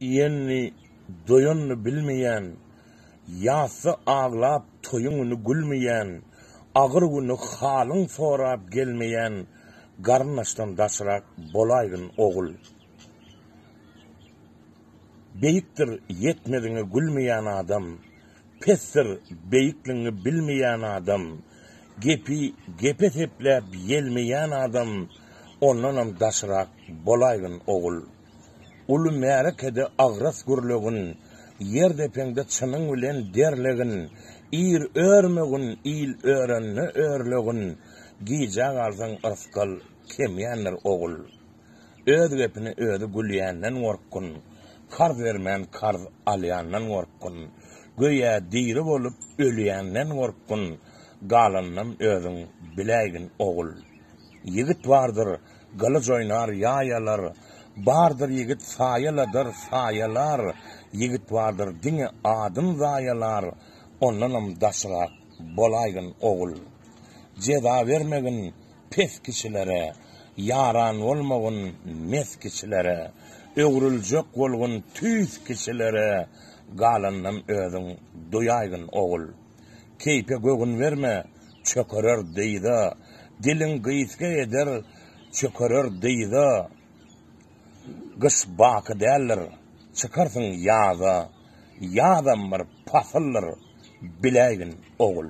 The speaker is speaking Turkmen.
Iýenini, doýanyny bilmeýän, Ýatsa aglap, toýuň güni gülmeýän, Agyr güni halyň sorap gelmeýän, Garyndaşdan daşrak bolaýgyn, ogul. Beýikdir, ýetmeziňe gülmeýän adam, Pesdir, beýikligiňi bilmeýän adam, Gepi gep esepläp ýelmeýän adam, Ondanam daşrak bolaýgyn, ogul. Uly märekede agras gürlegin, Ýer depeňde çynyň bilen derlegin. Ir örmegin, il örende örlegin, Gijä galsaň yrsgal kemýändir, ogul. Öz gepine özi gülýänden gorkgyn, Karz bermän karz alýandan gorkgyn. Göýä diri bolup ölýänden gorkgyn, Galanynam özüň biläýgin, ogul. Ýigit bardyr, Gylyç oýnar ýaýalar, Bardyr ýigit saýaladyr saýalar, Ýigit bardyr diňe adyn zaýalar, Ondanam daşrak bolaýgyn ogul. Jeza bermegin pes kişilere, Ýaran bolmagyn mes kişilere, Öwrüljek bolgun tüýs kişilere, Galanynam özüň duýaýgyn ogul. Keýpe göwün berme, çökerer dyza, Diliň gysga eder, çökerer dyza. Gyş baky däldir, çykarsyň ýaza, Ýazam bir pasyldyr, biläýgin, ogul.